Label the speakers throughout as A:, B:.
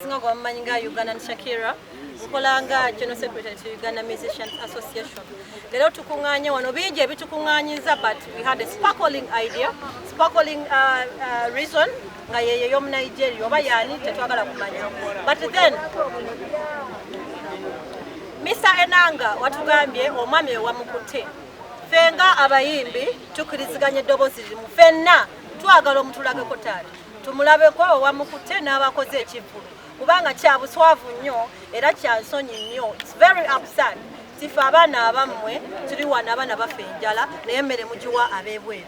A: singa gwe bamumanyi nga ugandan shakira nkola nga general secretary to uganda musicians association leero tukuŋŋaanye wano bingi ebitukuŋŋaanyiza but we had a sparkling idea sparkling uh, uh, reason nga yeyo ey'omunigeria oba yaani tetwagala kumanya but then misa enanga watugambye omwami ewamukutte ffe nga abayimbi tukiriziganya eddoboozi limu fenna twagala omutulageko taata tumulabeko owamukute n'abakoze ekivulu kubanga kyabuswavu nnyo era kyansonyi nnyo its very upsad tife abaana abammwe tuli wana abaana baffe enjala naye emmere mugiwa abebweru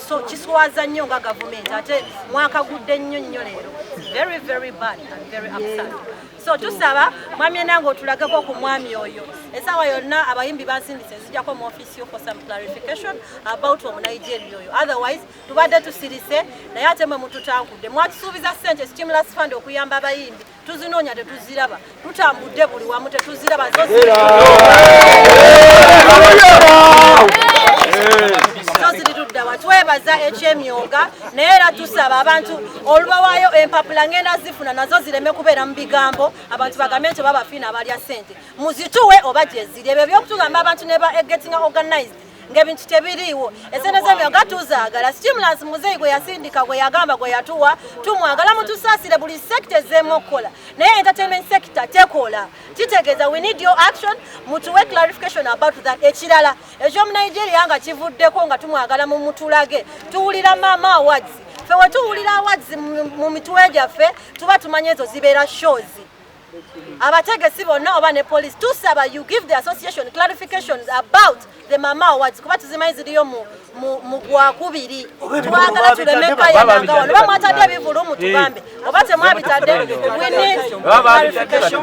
A: so kiswaza nnyo nga gavumenti ate mwakagudde nnyo nnyo leero very very bad and very upsad so tusaba mwami enange otulageko ku mwami oyo esawa yonna abayimbi bansindise nzijako mu office yo for some clarification about omunigeria oyo otherwise tubadde tusirise naye ate mwe mututankudde mwatusuubiza sente stimulus fund okuyamba abayimbi tuzinoonya tetuziraba tutambudde buli wamu tetuziraba twebaza ekyemyoga naye era tusaba abantu olubawayo empapula ngenda zifuna nazo zireme kubeera mu bigambo abantu bagambe nti babafiina abalya sente muzituwe oba gyeziri ebyo byokutugamba abantu neba egetinga organized ng'ebintu tebiriiwo esente zebyo nga tuzaagala stimulance muzeeyi gwe yasindika gwe yagamba gwe yatuwa tumwagala mutusaasire buli sekita ezzeemu okukola naye entertainment sector tekola kitegeeza we need your action mutuwe clarification about that ekirala ekyomunigeria nga kivuddeko nga tumwagala mu mutulage tuwulira maama awards fe wetuwulira awards mu mitwe gyaffe tuba tumanya ezo zibeera shows abategesi bonna oba ne police tusaba you give the association clarifications about the mama awards kuba tuzimanyi ziriyo mu mu gwakubiri twagala tuleme kayananga wano bamwatadde ebivulu mu tugambe oba temwabitadde wini clarification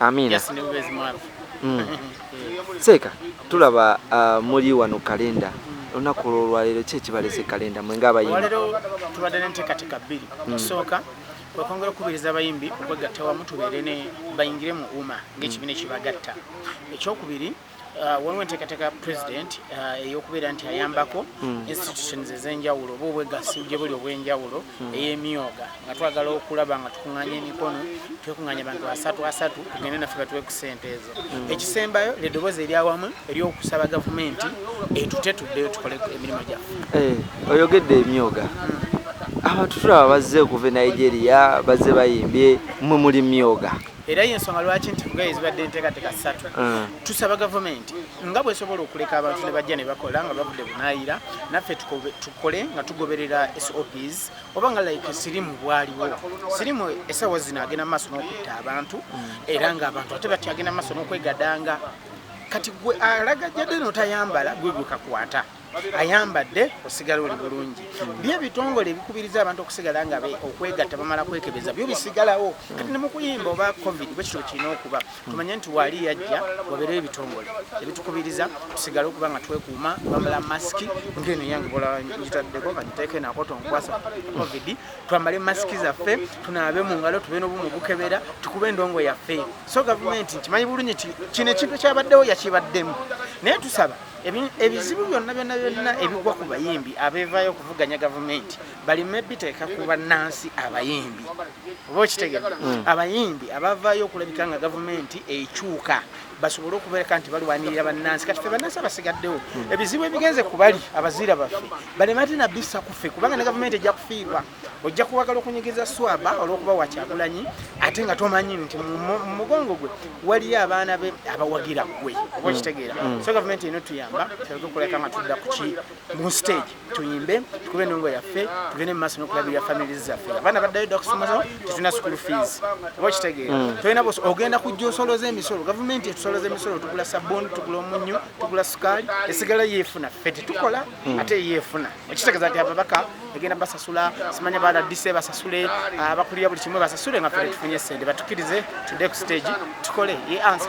B: Amina. Just new base mwavu. Mm.
C: Seeka tulaba uh, muli wano kalenda olunaku olwolwaleero ki ekibalese kalenda mwe ngaabayimbiwalero tubadde
B: nenteekateeka bbiri mm. okusooka okwongera okukubiriza abayimbi okwegatta wamu tubeere ne bayingire mu uma ng'ekibiina mm. ekibagatta ekyokubiri mm. Uh, waliwo enteekateeka ya president uh, eyokubeera nti ayambako hmm. institutions ezenjawulo oba obwegassi gye buli obwenjawulo hmm. eyemyoga nga twagala okulaba nga tukunganya emikono twekunganya abantu asatu asatu tugende naffe batuwe ku sente ezo hmm. ekisembayo lyedoboozi eryawamu eryokusaba gavumenti etute tuddeyo tukole emirimu gyaffe eh, oyogedde
C: emyoga abantu tulaba bazze okuva e nigeria bazze bayimbye mwe muli myoga era yensonga
B: lwaki nti kugaye zibadde enteekateeka ssatu mm. tusaba gavumenti nga bwesobola okuleka abantu ne bajja ne bakola nga bavudde bunayira naffe tukole nga tugoberera sops oba nga like sirimu bwaliwo sirimu esawa zino agenda mu maaso n'okutta abantu mm. era nga abantu ate bati agenda mu maaso n'okwegadanga kati gwe alagajjadde notayambala gwe gwekakwata ayambadde osigala oli bulungi byo ebitongole ebikubiriza abantu okusigala nga okwegatta bamala kwekebeza byo bisigalawo kati nemukuyimba oba covid bwekityo kirina okuba tumanye nti waali yajja wabeerewo ebitongole ebitukubiriza tusigale okuba nga twekuuma bamala masiki ngeno yange bolangitaddeko kagiteeke nakoto nkwasa covid twambale masiki zaffe tunaabe mu ngalo tube nobumu bukebera tukube endongo yaffe so gavumenti nkimanyi bulungi kino ekintu kyabaddewo yakibaddemu naye tusaba ebizibu byonna byonna byonna ebigwa ku bayimbi abevayo okuvuganya gavumenti balime biteeka ku bannansi abayimbi oba okitegera hmm. abayimbi abavayo okulabika nga gavumenti ekyuka basobole okubereka nti balwanirira bannansi kati fe bannansi abasigaddewo hmm. ebizibu ebigenze ku bali abaziira baffe baleme ate nabissa ku ffe kubanga ne gavumenti ejja kufiirwa ojja kuwagala okunyigiriza swaba olwokuba wa kyagulanyi ate nga tomanyi nti mumugongo gwe waliyo abaana be abawagira gwe oba okitegeera mm. so gavumenti eno tuyamba tulage okuleka nga tudda kuki mu stage tuyimbe tukube endongo yaffe tugende mu maaso nokulabirira famili zaffe abaana baddayo dda okusomaso tetulina school fees oba okitegeera mm. tolina bos ogenda kujja osoloza emisolo gavumenti etusoloza emisolo tugula sabuni tugula omunyu tugula sukaali esigala yeefuna ffe tetukola mm. ate yeefuna ekitegeeza nti ababaka egenda basasula simanya baladise basasule abakulira buli kimu basasule nga ffe tetufunye sente batukirize tude ku stage tukole ye ansa